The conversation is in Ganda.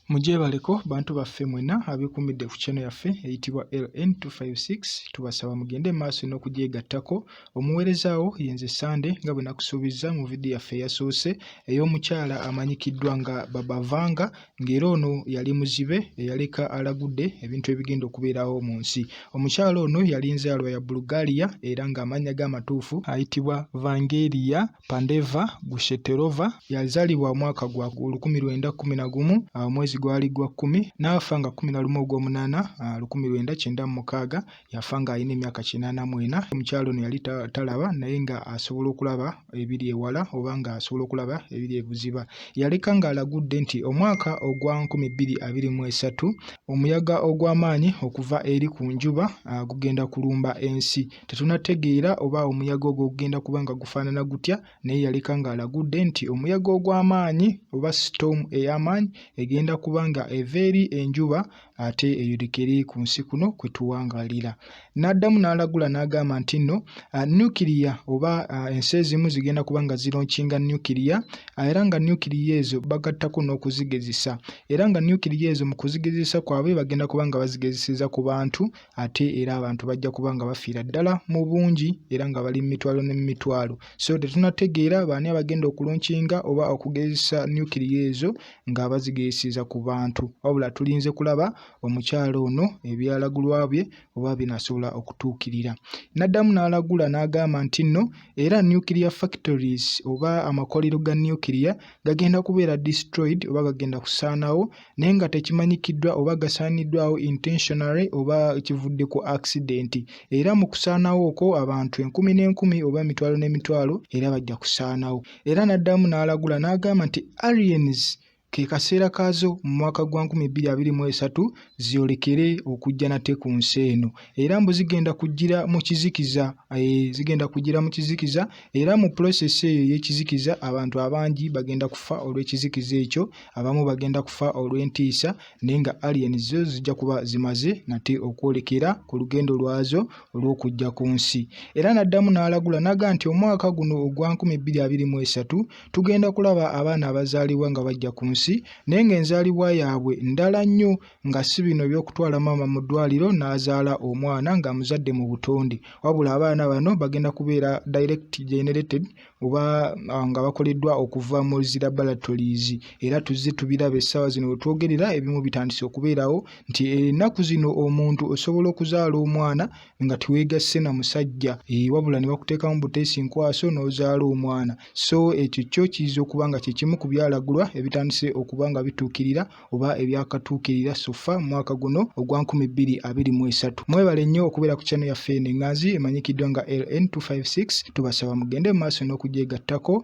Mugyebaleko bantu baffe mwena abekumidde ku channel yaffe eyitibwa LN256 tubasaba mugende maaso n'okugyegattako omuwerezaawo yenze Sande nga bwe nakusuubizza mu vidiyo yaffe eyasoose ey'omukyala amanyikiddwa nga Babavanga ng'era ono yali muzibe eyaleka alagudde ebintu ebigenda okubeerawo mu nsi omukyala ono yali nzaalwa ya Bulgaria era ng'amannya ge amatuufu ayitibwa Vangeria Pandeva Gushetelova yazalibwa omwaka gwa olukumi lwenda kumi na gumu ah, omwezi gwali gwa kkumi n'afa nga kumi na lumu ogw'omunaana ah, lukumi lwenda kyenda mu mukaaga yafa nga alina emyaka kinaana mwena omukyalo ono yali talaba naye nga asobola okulaba ebiri ewala oba nga asobola okulaba ebiri ebuziba yaleka nga alagudde nti omwaka ogwa nkumi bbiri abiri mu esatu omuyaga ogw'amaanyi okuva eri ku njuba ah, gugenda kulumba ensi Tetunategeera oba omuyaga ogwo gugenda kuba nga gufaanana gutya, naye yaleka ng'alagudde nti omuyaga ogw'amaanyi oba sitoomu ey'amaanyi egenda kuba nga eva eri enjuba ate eyolekere ku nsi kuno kwe tuwangaalira. N'addamu n'alagula n'agamba nti nno ah, nukiriya oba ah, ensi ezimu zigenda kuba nga zironkinga nukiriya ah, era nga nukiriya ezo bagattako n'okuzigezesa era nga nukiriya ezo mu kuzigezesa kwabwe bagenda kuba nga bazigezeseza ku bantu ate era abantu bajja kuba nga bafiira ddala mu bungi era nga bali mu mitwalo ne mu mitwalo so tetunategeera baani abagenda okulunkinga oba okugezesa nukiriya ezo nga bazigeyeseza ku bantu wabula tulinze kulaba omukyalo ono ebyalagulwa bye oba binasobola okutuukirira naddamu n'alagula n'agamba nti nno era nukiriya factories oba amakolero ga nukiriya gagenda kubeera destroyed oba gagenda kusaanawo naye nga tekimanyikiddwa oba gasaaniddwawo intentionally oba kivudde ku accident era mu kusaanawo okwo abantu enkumi n'enkumi oba emitwalo n'emitwalo era bajja kusaanawo era n'addamu n'alagula n'agamba nti aliens ke kaseera kaazo mu mwaka gwa 2023 zyolekere okujja nate ku nsi eno era mbu zigenda kujjira mu kizikiza eh, zigenda kujjira mu kizikiza era mu pulosesi eyo ey'ekizikiza abantu abangi bagenda kufa olw'ekizikiza ekyo abamu bagenda kufa olw'entiisa naye nga alien zo zijja kuba zimaze nate okwolekera ku lugendo lwazo olw'okujja ku nsi era n'addamu n'alagula naga nti omwaka guno ogwa 2023 tugenda kulaba abaana abazaalibwa nga bajja ku nsi naye ng'enzaalibwa yaabwe ndala nnyo nga si bino eby'okutwala maama mu ddwaliro n'azaala omwana ng'amuzadde mu butonde wabula abaana bano bagenda kubeera direct generated oba ah, nga bakoleddwa okuva mu zi laboratories era tuzze tubiraba essaawa zino we twogerera ebimu bitandise okubeerawo nti ennaku zino omuntu osobola okuzaala omwana nga teweegasse na musajja eh, wabula ne bakuteekamu buteesi nkwaso n'ozaala omwana so ekyo kyo kiyinza okuba nga kye kimu ku byalagulwa ebitandise okuba nga bituukirira oba ebyakatuukirira sofa mu mwaka guno ogwa 2023 mwebale nnyo okubeera ku channel yaffe eno enganzi emanyikiddwa nga ln256 tubasaba mugende mu maaso n'okugyegattako